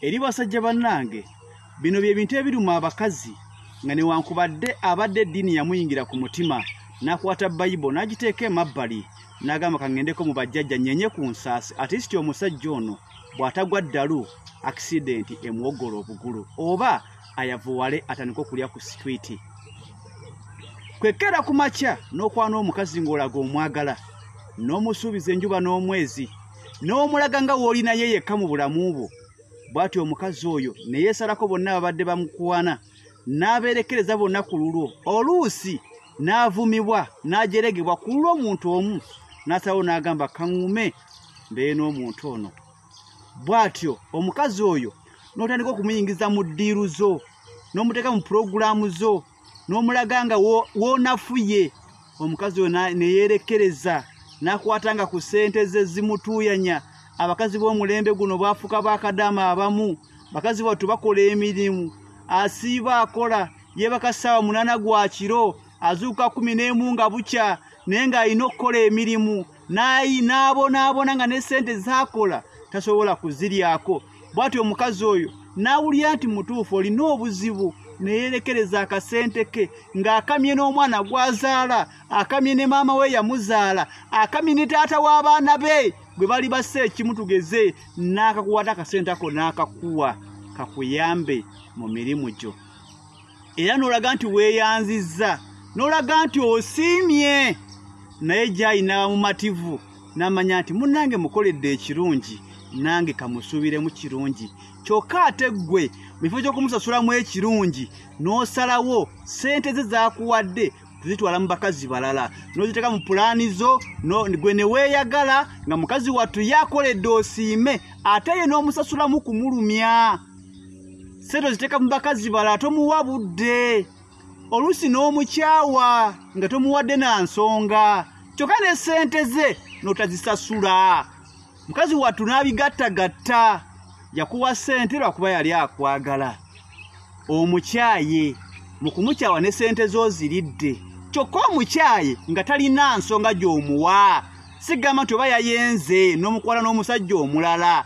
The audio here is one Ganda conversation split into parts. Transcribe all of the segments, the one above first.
eri basajja bannange bino bye bintu ebiruma abakazi nga newankubadde abadde eddiini yamuyingira ku mutima n'akwata bayibo n'agiteeka emabbali n'agamba kaŋŋendeko mu bajjajja nyenye ku nsaasi atisiti omusajja ono bw'atagwa ddalu akisidenti emuwogola obugulu oba ayavuwale atandika okulya ku sitwiti kwekera ku makya n'okwana omukazi ng'olaga omwagala n'omusuubiza enjuba n'omwezi n'omulaga nga w'oli naye yekka mu bulamu bwo bw'atyo omukazi oyo ne yeesalako bonna ababadde bamukwana n'abeerekereza bonna ku lulwo oluusi n'avumibwa n'ajeregebwa ku lulwo omuntu omu n'asalawo n'agamba kaŋume mbeere n'omuntu ono bw'atyo omukazi oyo n'otandika okumuyingiza mu ddiiru zo n'omuteeka mu pulogulaamu zo n'omulaga nga woonafuye omukazi oyo neyeerekereza n'akwata nga ku ssente ze zimutuuyanya abakazi b'omulembe guno baafuka bakadaama abamu bakazi battu bakola emirimu asiiba akola yeebaka ssaawa munaana gwa kiro azuuka kumi n'emu nga bukya naye ng'alina okukola emirimu nayi n'abonaabona nga ne sente zaakola tasobola kuziryako bwati omukazi oyo n'awulira nti mutuufu olina obuzibu neyerekereza akasente ke ng'akamye n'omwana gwazaala akamye ne maama we yamuzaala akamye ne taata w'abaana be gwe bali bassa ekimu tugeze n'akakuwata akasente ako n'akakuwa kakuyambe mu mirimu gyo era n'olaga nti weeyanzizza n'olaga nti osiimye naye gyayi n'aba mumativu n'amanya nti munnange mukoledde ekirungi nange kamusuubiremu kirungi kyokka ate ggwe mu kifo ky'okumusasulamu ekirungi n'osalawo ssente ze zaakuwadde kuzitwala mu bakazi balala n'oziteeka mu pulaani zo gwe ne weeyagala nga mukazi wattu yakoledde osiime ate ye n'omusasulamu kumulumya sente oziteeka mu bakazi bala tomuwa budde oluusi n'omukyawa nga tomuwadde na nsonga kyokka ne sente ze n'otazisasula mukazi wattu n'abigattagatta yakuwa sente lwakuba yali akwagala omukyaye mu kumukyawa ne sente z'oziridde kyokka omukyaye nga talina nsonga gy'omuwa sigamba nti oba yayenze n'omukwala n'omusajja omulala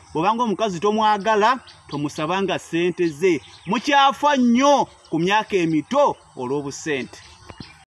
bwobanga omukazi tomwagala tomusabanga ssente ze mukyafa nnyo ku myaka emito olw'obusente